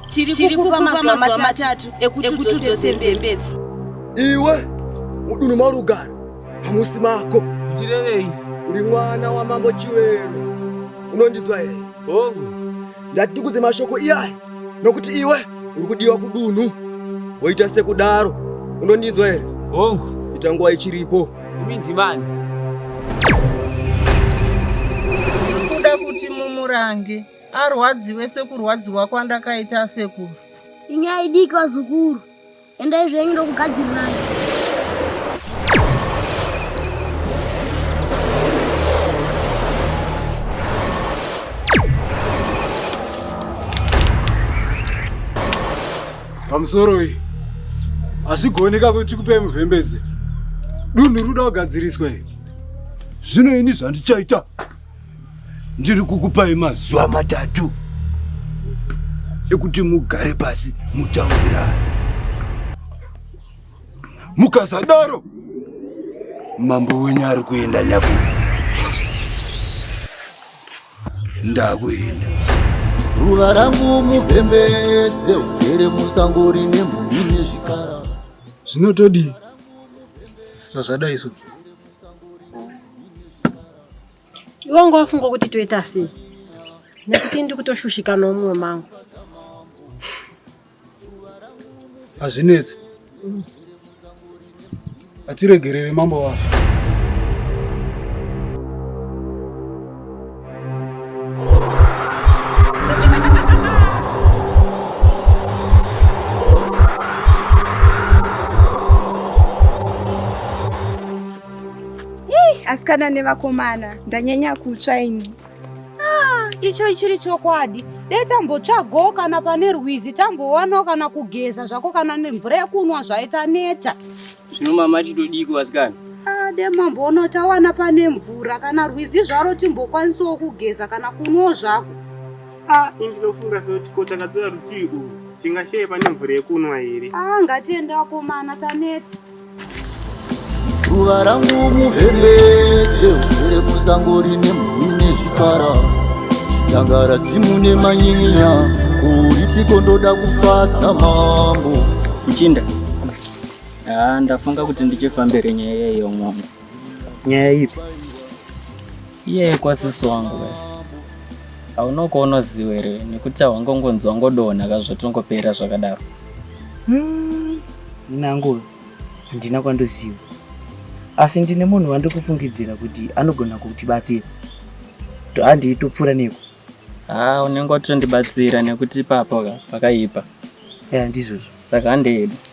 tiri kukupa mazuva matatu ekuti udzose mbembedzi iwe mudunhu maurugara hamusi mako ndichirevei uri mwana wamambo chivero unondinzwa here hongu ndati ndikudze mashoko iyaya nokuti iwe uri kudiwa kudunhu woita sekudaro unondinzwa here hongu ita nguva ichiripo Imi ndimani? Kuda kuti mumurange arwadziwe sekurwadziwa kwandakaita asekuru. Inyaya idiki vazukuru, endai zvenyu ndokugadzirirai. pamusoro iyi hazvigoneka kuti tikupei muvhembedze dunhu ruda kugadziriswa iyi zvino ini zvandichaita ndiri kukupai mazuva matatu ekuti mugare pasi mutaurirana mukasadaro mambo wenyu ari kuenda nyakurira ndakuenda ruva rangu muvhembedze ugere musango rine mhumbi nezvikara zvinotodii zvazvadai so iwe ngo wafunga kuti toita sei nekuti ndikutoshushika noumwe mangu hazvinetsi hatiregerere mambo vavo asikana nevakomana ndanyanya kutsva ini icho chiri chokwadi dai tambotsvagawo kana pane rwizi tambowanawo kana kugeza zvako kana nemvura yekunwa zvaita neta zvino mama titodiko vasikana ah, de mamboona tawana pane mvura kana rwizi zvaro timbokwanisawo kugeza kana kunwawo zvako ah, ndinofunga sekuti ko takatora rutivi urwu tingasheye pane mvura yekunwa here ah, ngatiende wakomana taneta Ruva rangu muhembedze ugere musango rine mhuri nezvipara Zangara dzimu nemanyinya uripiko ndoda kufadza mambo Muchinda ah, ndafunga kuti ndichifambire nyaya yeyo mwana Nyaya ipi? Iye kwasisi wangu we. Haunoko unoziva here nekuti hawangongonzi wangodonha ka zvatongopera zvakadaro. Hmm. Nangu handina kwandoziva. Asi ndine munhu wandikufungidzira kuti anogona kutibatsira. Handii topfuura neko. Ah, unenge watondibatsira nekuti ipapo ka pakaipa. Eh, ndizvozvo. Saka handeedu.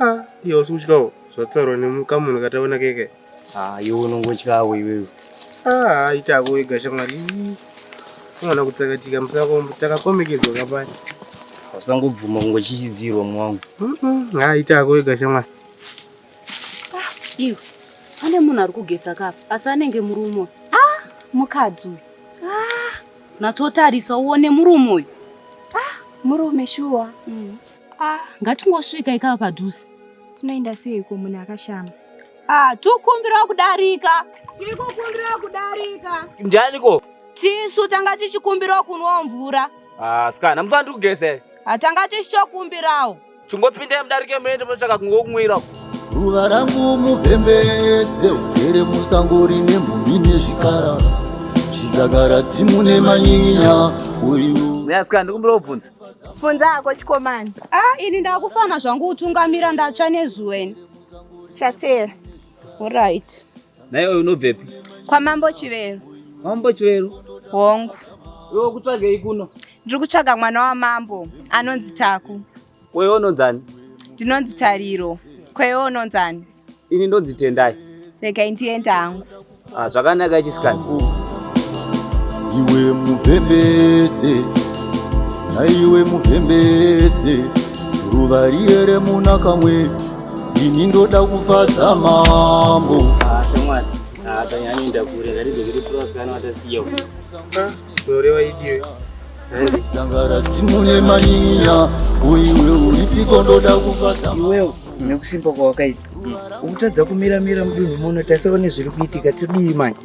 Ah, iye usi kutyawo zvataurwa nemukamunhu kataona keke. Ah, iwe unongotyawo iwewe. Ah, itako wega shamwari. Unogona kutsakatika musako takakomekedzwa kapaya. Usangobvuma kungochichidzirwa mwangu. Mhm, ah, itako wega shamwari. Iwe pane munhu ari kugeza kapa asi anenge murume uyu. Ah, mukadzi uyu. Ah, natsotarisa uone murume uyu. Murume shuwa. Ah, ngatingosvika ikava padhuze. Tinoenda seiko munhu akashama? Ah, tikumbirawo kudarika. Tikumbirawo kudarika. Ndianiko? Tisu tanga tichikumbirawo kunwa mvura. Ah, sikana, mutwa ndiri kugeze. Ah, tanga tichichokumbirawo. Chingopindai mudarike muende munotsvaka kungokumwira. Ruva rangu muvhembedze ugere musango rine mhumbi nezvikara. Chizagara tsimu nemanyinya uyu. Myasikana, ndikumbira kubvunza. Funza hako chikomani. Ah, ini ndakufana zvangu utungamira ndatsva nezuva ini. Chateera. Alright. Naye unobvepi? Kwa Mambo Chivero. Mambo Chivero? Hongu. Wewe kutsvagei kuno? Ndiri kutsvaga mwana wa Mambo anonzi Taku. Wewe unonzani? Ndinonzi Tariro. Kwewe unonzani? Ini ndonzi Tendai. Regai ndienda hangu. Ah, zvakanaka chisikana. Iwe muvhembedze, naiwe muvhembedze, ruva riye remuna kamwe, ini ndoda kufadza mambo. Ah, shamwari. Ah, tanyanya ndakure, ndaridzokere purasikana watasiyewo. Ah. zvinoreva idiwe dzangara dzimune manyinya uiwe uripiko ndoda kufadza iwewo nekusimba kwawakaita ukutadza kumira mira mudunhu muno tasaone zviri kuitika tidii manje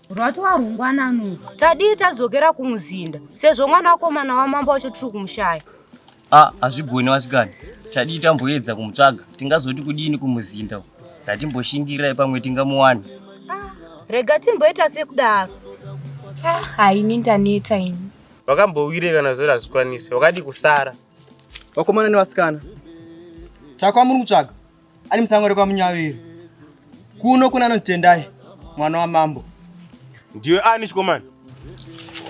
rwatova rungwanano tadii tadzokera kumuzinda sezvo mwana wakomana wamambo wacho tiri kumushaya a hazvigoni wasikana tadii tamboedza kumutsvaga tingazoti kudini kumuzinda ndatimboshingirai pamwe tingamuwana rega timboita sekudaro haini ndaneta ini vakambowire kana zori hazvikwanise wakadi kusara vakomana nevasikana chakwa muri kutsvaga ari musango rekwamunyaviri kuno kuna anotendai mwana wamambo ndiwe ani chikomana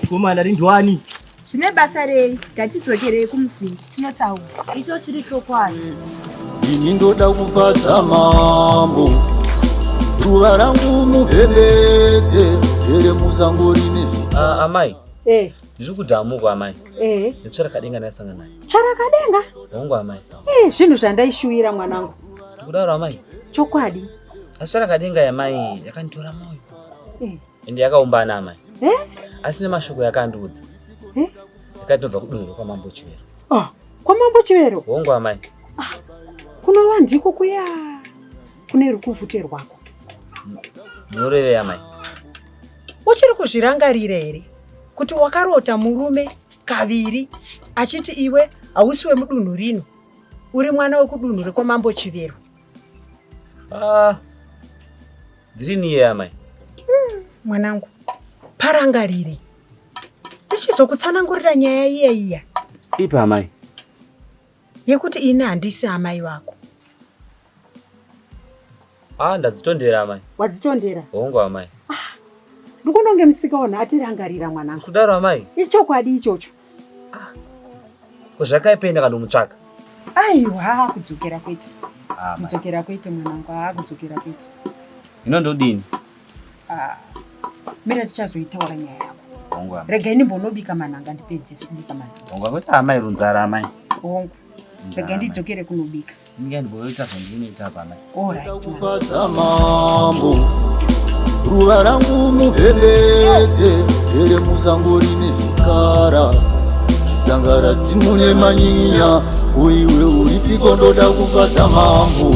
chikomana rindwani zvine basa rei ngatidzokerei kumuzinda tinotaura icho chiri chokwadi ini ndoda kufadza mambo ruva rangu muvhembedze here musango rine ah, amai eh. Ndiri kuti amuko amai. Eh. Netsvara kadenga ndasanga naye. Tsvara kadenga? Hongu amai. Eh, zvinhu zvandaishuvira mwanangu. Ndikudaro amai. Chokwadi. Asi tsvara kadenga yamai yakanditora moyo. Eh. Ende yakaombana amai. Eh? Asi nemashoko yakandiudza. Eh? Yakatobva kudoro kwamambo Chivero. Oh, kwamambo Chivero? Hongu amai. Ah, kunova ndiko kuya kune rukuvhute rwako. Munorevei amai? Uchiri kuzvirangarira here kuti wakarota murume kaviri achiti iwe hausi wemudunhu rino uri mwana wekudunhu rekwamambo Chivero? Ah, ndiri niye amai. Hmm, mwanangu, parangarire ndichizokutsanangurira nyaya iya iya. Ipa amai. yekuti ini handisi amai vako ah ndadzitondera amai wadzitondera hongu amai ah, ndikunonge musikaona atirangarira mwanangu kudaro amai ichokwadi ichocho ah, kozvakaipeenda kanomutsvaka aiwa haa kudzokera kwete ah, kudzokera kwete mwanangu haa kudzokera kwete ino ndodini Ah, mira tichazoitaura nyaya yako hongu amai rega ini mbonobika manhanga ndipedzise kubika manhanga hongu akuti amai runzara amai hongu rega ndidzokere kunobika ndinge ndigoita zvandinoita apa amai orit kufadza mambo ruva rangu muvhevete here muzango rine zvikara zangara dzimune manyinya uiwe uripiko ndoda kufadza mambo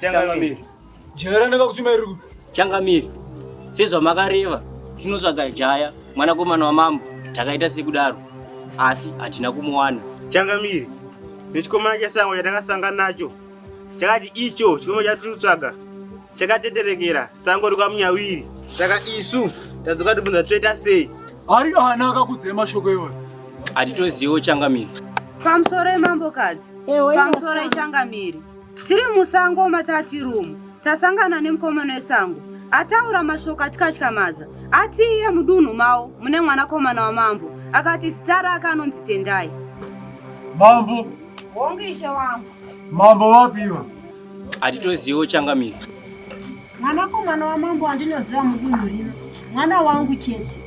Changamire. Jaya ranaka kutuma iri kupi? Changamire. Sezvamakareva tinotsvaga jaya mwanakomana wamambo takaita sekudaro asi hatina kumuwana. Changamire. Nechikomana chesango chatakasangana nacho chakati icho chikomana chatiri kutsvaga chakateterekera sango rikwamunyawiri saka isu tadzoka tibvunza toita sei ari ana akakudzai mashoko iwayo hatitoziviwo changamire pamusoro emambokadzi pamusoro echangamire Tiri musango matati room tasangana nemukomana wesango ataura mashoko atikatyamadza ati iye mudunhu mavo mune mwanakomana wamambo akati zita rake anonzi tendai mambo hongu ishe wangu mambo vapiwa hatitoziviwo changamiro mwanakomana wamambo wandinoziva mudunhu rino mwana wangu chete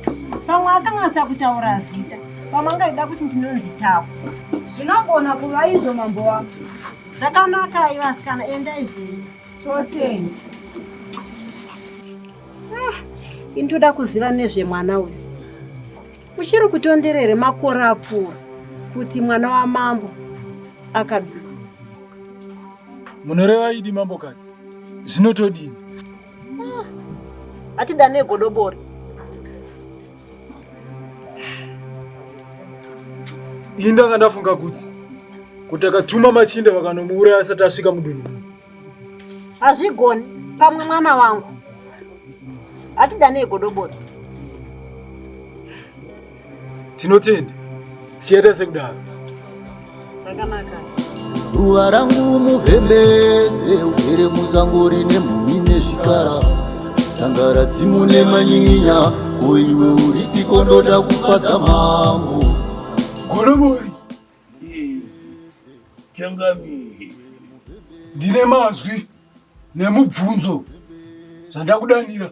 pamwe akanganisa kutaura zita pamwe angaida kuti ndinonzi tako zvinogona kuva izvo mambo wangu Zvakanaka iva kana enda izvii. Toteni. Ah, indoda kuziva nezve mwana uyu. Uchiri kutonderere makore apfuura kuti mwana wa mambo akabika. Munoreva idi mambo kadzi. Zvinotodini? Ah, atidane godobori. Ini ndanga ndafunga kuti kuti akatuma machinda vakanomuuraya asati asvika mudunhu muno. Hazvigoni pamwe mwana wangu. Hatidanei godobori. Tinotenda. Tichaita sekudaro. ruva rangu muvhembedze ugere muzango rine mhumi nezvikara sangara dzimu nemanyinya koiwe uripi kondoda kufadza mambo goromori changami ndine mazwi nemubvunzo zvandakudanira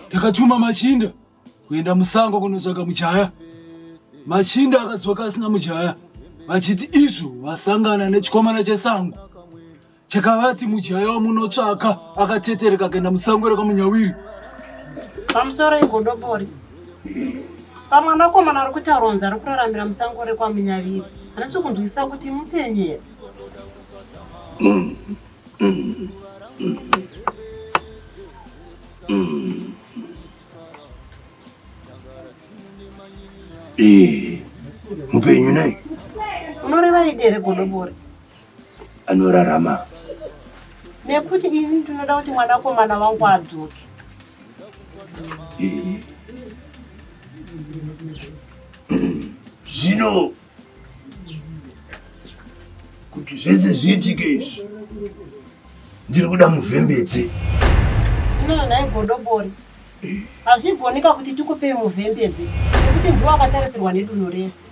takatuma machinda kuenda musango kunotsvaga mujaya machinda akadzoka asina mujaya vachiti izvo vasangana nechikomana chesango chakavati mujaya wamunotsvaka akatetereka kuenda musango rekamunyawiri pamusoro igodobori pamwanakomana ari kuti aronza ari kuraramira musango rekwamunyaviri handisi kunzwisisa kuti mupenyera Eh, mupenyu naye unoreva idi here godobori anorarama nekuti ini ndinoda kuti mwanakomana wangu adzoke Eh. Mm, zvino kuti zvese zviitike izvi ndiri kuda muvhembedze unonai godobori hazvigoneka kuti tikupei muvhembedze nekuti ndiwo akatarisirwa nedunhu rese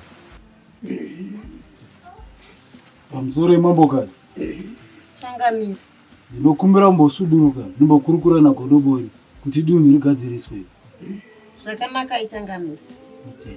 pamusoro yemambokazi changamira ndinokumbira mbosuduruka ndimbokurukura nagodobori kuti dunhu rigadziriswe zvakanaka ichangamira okay.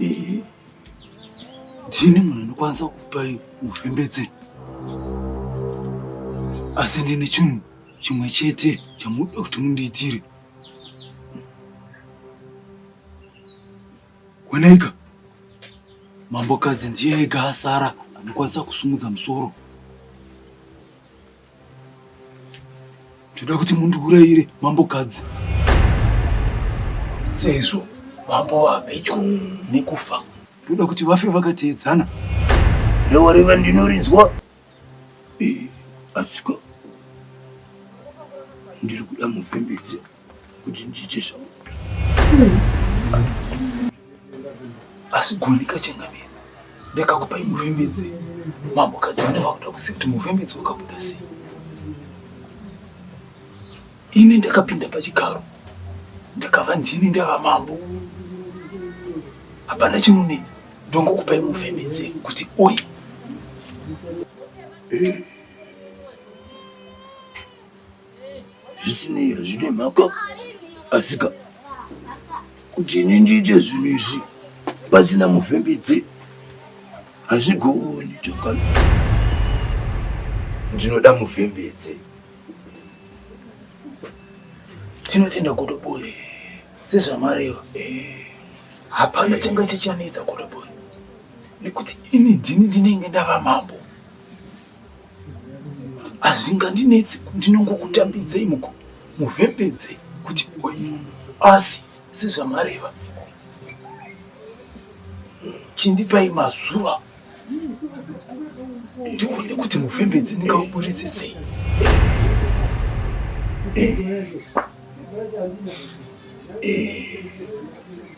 Ehe. Ndini munhu anokwanisa kupai ufembetse. Asi ndine chinhu chimwe chete chamunoda kuti mundiitire. Wanaika. Mambokadzi ndiye ega asara anokwanisa kusumudza musoro. Toda kuti mundiurayire mambokadzi sezvo mambo vapedyo nekufa. Toda kuti vafe vakateedzana. Rewareva ndinorinzwa eh, asiko ndiri kuda mupembedze kuti ndiite zvauri asi goni kachengamira ndakakupai muvhembedze mambokadzi vana vakuda kuziva kuti muvhembedze wakabuda sei ini ndakapinda pachigaro ndakavanzi ini ndava mambo hapana chinonetsa ndongokupai muvhembedze kuti oyi zvisinei hazvine mhaka asika kuti ini ndiite zvinhu izvi pasina mufembedzi hazvigooni tongano ndinoda mufembedzi tinotenda godobori sezvamareva eh, hapana changa chichanetsa godobori nekuti ini ndini ndinenge ndava mambo hazvingandinetsi ndinongokutambidzei muhembedze kuti oyi asi sezvamareva chindipai mazuva ndione kuti mufembedzi ndingauburitse sei eh. eh. eh.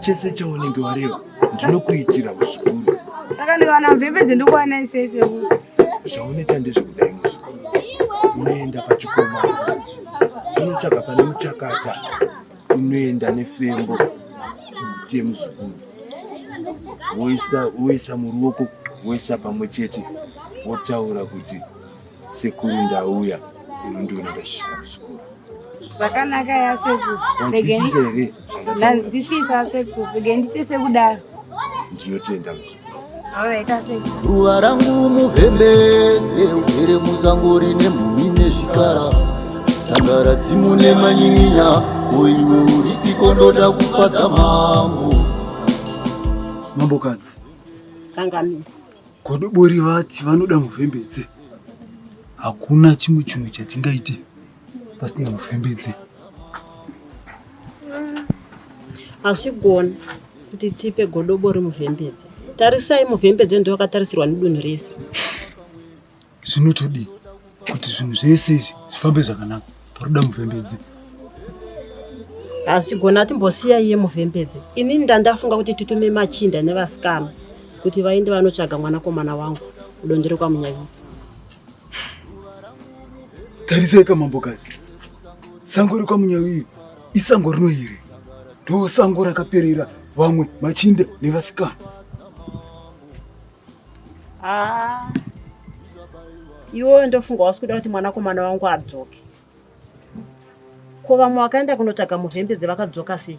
chese chaunenge wareva ndinokuitira muzukuru saka ndikawana mvembe dzendikuwana isese zvaunoita ndezvekudai muzukuru unoenda pachikoma unotsvaga pane muchakata unoenda nefembo kuti muzukuru woisa muruoko woisa pamwe chete wotaura kuti Sekuru ndauya unondiona ndasvika kuchikoro. Zvakanaka yasekuru. Wanzwisisa here? Ndanzwisisa asekuru. Rege ndite sekudaro. Ndinotenda muzukuru. Ruva rangu muvhembedze ugere muzango rine mhumi nezvikara sangara dzimu nemanyinya oiwe uripiko ndoda kufadza mambo mambokadzi kangamira Godobori vati vanoda mufembedze. Hakuna chimwe chimwe chatingaite pasina mufembedze. Hazvigoni kuti tipe godobori mufembedze. Tarisai mufembedze ndoakatarisirwa nedunhu rese. Zvinotodii? kuti zvinhu zvese izvi zvifambe zvakanaka parikuda muvhembedzi hazvigona timbosiya iye muvhembedzi inini ndandafunga kuti titume machinda nevasikana kuti vaende vanotsvaga mwanakomana wangu kudondero kwamunyavii tarisai kamambokazi sango rekwamunyavii isango rino here ndosango rakaperera vamwe machinda nevasikana Ah. Iwo ndofunga wasi kuda kuti mwanakomana wangu adzoke. Ko vamwe wakaenda kunotsvaga muhembe dzevakadzoka sei?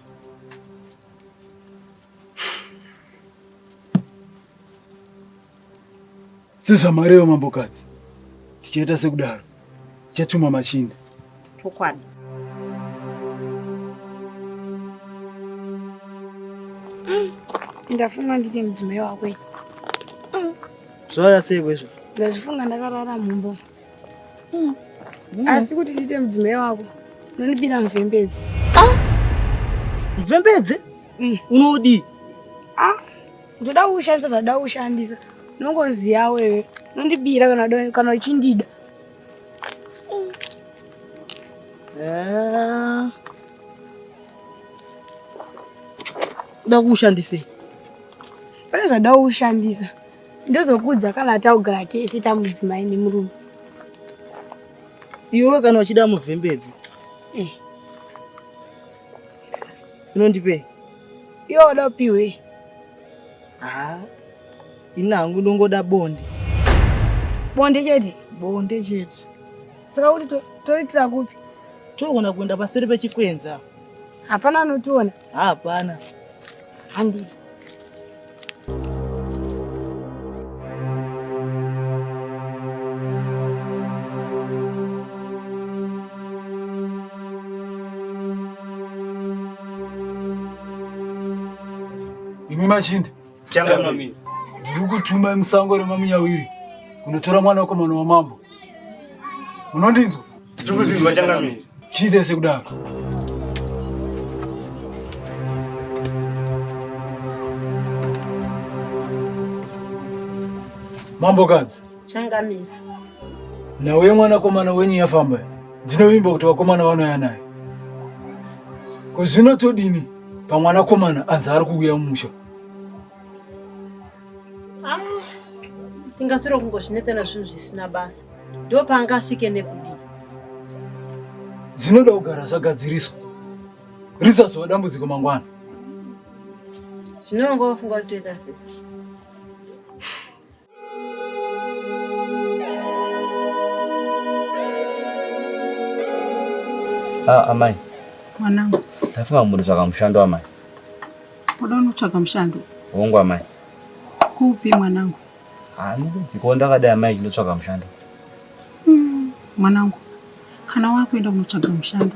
Sezvamarevo mambokadzi, tichaita sekudaro. chatuma machinda chokwadi ndafunga nditi mudzimai wako iyi zvaya sei kwezvo ndazvifunga ndakarara mumbo mm. asi kuti ndiite mudzimai wako unondibira mvembedzi ah! mvembedzi mm. unodii ah! ndoda kukushandisa zvada kushandisa nongoziya wewe nondibira kana uchindida eh. da kuushandisei pane zvada kuushandisa ndozokudza kana taugara tese tamudzimai nemurume iwe kana uchida muvhembedzi eh. Unondipei? Iwe wada kupiwei? Ah, ini hangu ndongoda bonde. Bonde chete? Bonde chete. Saka kuti toitira kupi? Togona kuenda paseri pechikwenza. Hapana anotiona? Hapana. Handiti. Imi machinda ndiri kutuma musango remamunyawiri kunotora mwana wako mwana wamambo munondinzwa Tiri kuziva changamire. Chiita sekudaro. Mambo kadzi. Changamire. Nawe mwana komana wenyu yafamba. Ndinovimba kuti vakomana vanouya naye. Ko zvino todini pamwana komana anzi ari kuuya mumusha. Ah, tingasiro kungozvinetsa nazvinhu zvisina basa ndo paanga asvike nekudii zvinoda kugara zvagadziriswa rizazova dambudziko mangwana zvinonga wafunga kutoita sei Ah, amai mwanangu ndafunga mhuri zvakamushando amai Kuda unotsvaga mushando. Hongu amai. Kupi mwanangu? Handikudzikawo ndakadai amai ndinotsvaga mushando. Hmm, mwanangu, kana wakuenda kunotsvaga mushando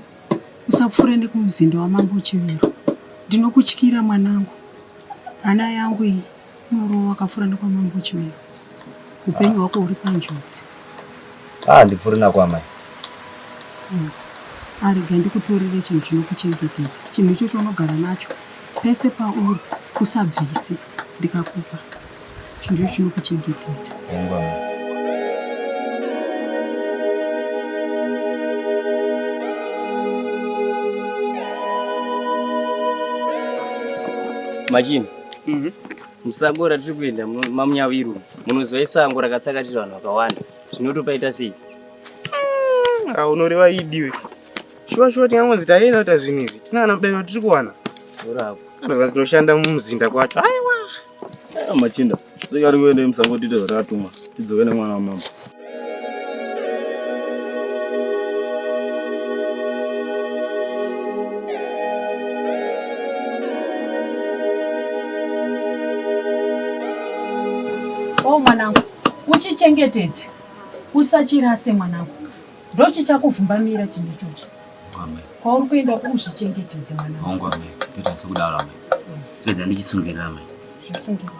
usapfuure nekumuzinda wamambo Chivero. Ndinokutyira mwanangu, hana yangu iyi. Unorova wakapfura nekwamambo Chimera. Upenyu hwako huri panjodzi. Ah, ndipfuri nakwamai. Hmm. Arega ah, ndikutorere chinhu chinokuchengetedza. Chinhu ichocho unogara nacho pese pauri kusabvise ndikakupa. Chinhu ichocho chinokuchengetedza. Engwa. Imagine. Mhm. Musango ratiri kuenda mu- mamunyaviru munoziva isango rakatsakatira vanhu vakawanda zvinotopaita sei Ah, unoreva idiwe shuwa shuwa tingangonzi taienda kuita zvinhu izvi tinana mubereki watiri kuwana orako kana kuti tinoshanda mumuzinda kwacho aiwa Ah, machinda seka ari kuenda musango tiite zvatakatumwa tidzoke nemwana wamama Oh mwanangu, uchichengetedze usachirase mwanangu, ndochichakuvhumbamira chinhu ichochi kwauri kuenda kuuzvichengetedze mwanangu. Ndoita sekudaro amai, pedza ndichisungirira amai. Zvisungirira.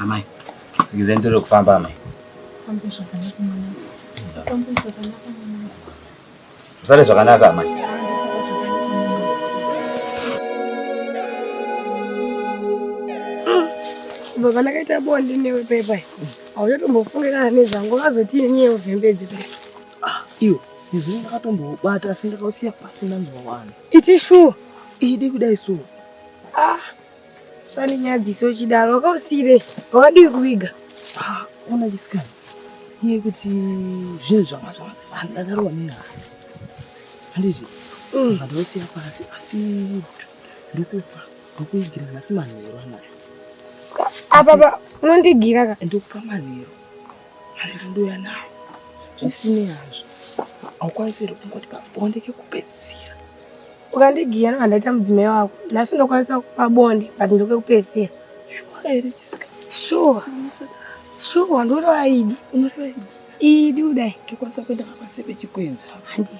Amai, ndikizeni tiri kufamba amai. Musare zvakanaka amai. Baba ndakaita bonde newe pepa. Hauchatombofungira nezvangu vazotii nyewe vhembedzi pepa. Ah, iwe, izvi ndakatombobata asi ndakausiya pasi ndanzwa wani. Iti shuwa. Idi kudai so. Ah. Sani nyadziso chidaro wakausire wakadii kuviga. Ah, ona chisikana. Iye kuti zvinhu zvanga zvanga handadaro wanera. Handizvi. Mm. Zvandosiya pasi asi ndokupa ndokuigira nhasi manheru anayo. Apa unondigira ka? Ndokupa manheru. Hariri ndoya nawo. Zvisinei hazvo. Haukwanisi here kungoti pabonde kekupedzisira. Ukandigiya nevandaita mudzimai wako. Nhasi ndokwanisa kupa bonde but ndokekupedzisira. Shuwa here Jessica? Shuwa. Shuwa ndoreva idi. Unoreva idi. Idi kudai. Tokwanisa kuenda pabasa pechikwenzi. Handii.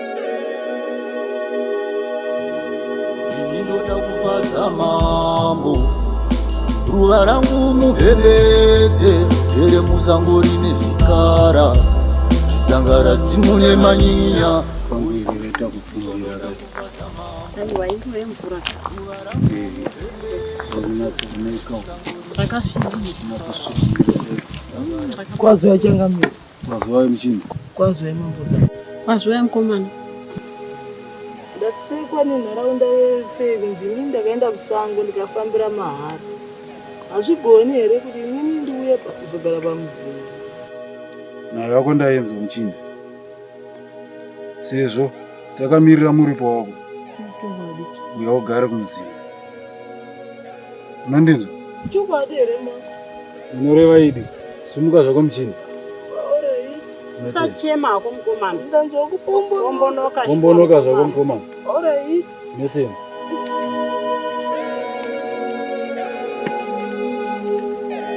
ndinoda kufadza mambo ruva rangu muvhevhedze here musango rine zvikara zvisangara dzimune manyinya kwazo yachangamira Kwazwai muchinda. Kwazwai mambo dai. Kwazwai mkomana. Ndasekwa nenharaunda yese kunzi inini ndakaenda kusango ndikafambira mahara. Hazvigoni here kuti inini ndiuye kuzogara pamuzinda. Nayo yako ndainzwa muchinda. Sezvo takamirira muripo wako. Uya ugare kumuzinda. Mandizwa? Chokwadi here ma? Unoreva idi. Sumuka zvako muchini. Usachema hako mukomana. Ndanzwa kupombonoka. Pombonoka zvako mukomana. Alright. Notenda.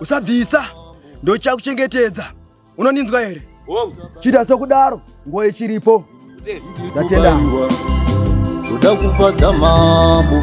usabvisa ndochakuchengetedza unoninzwa here chita sokudaro nguva ichiripo ndatenda kuda kufadza mambo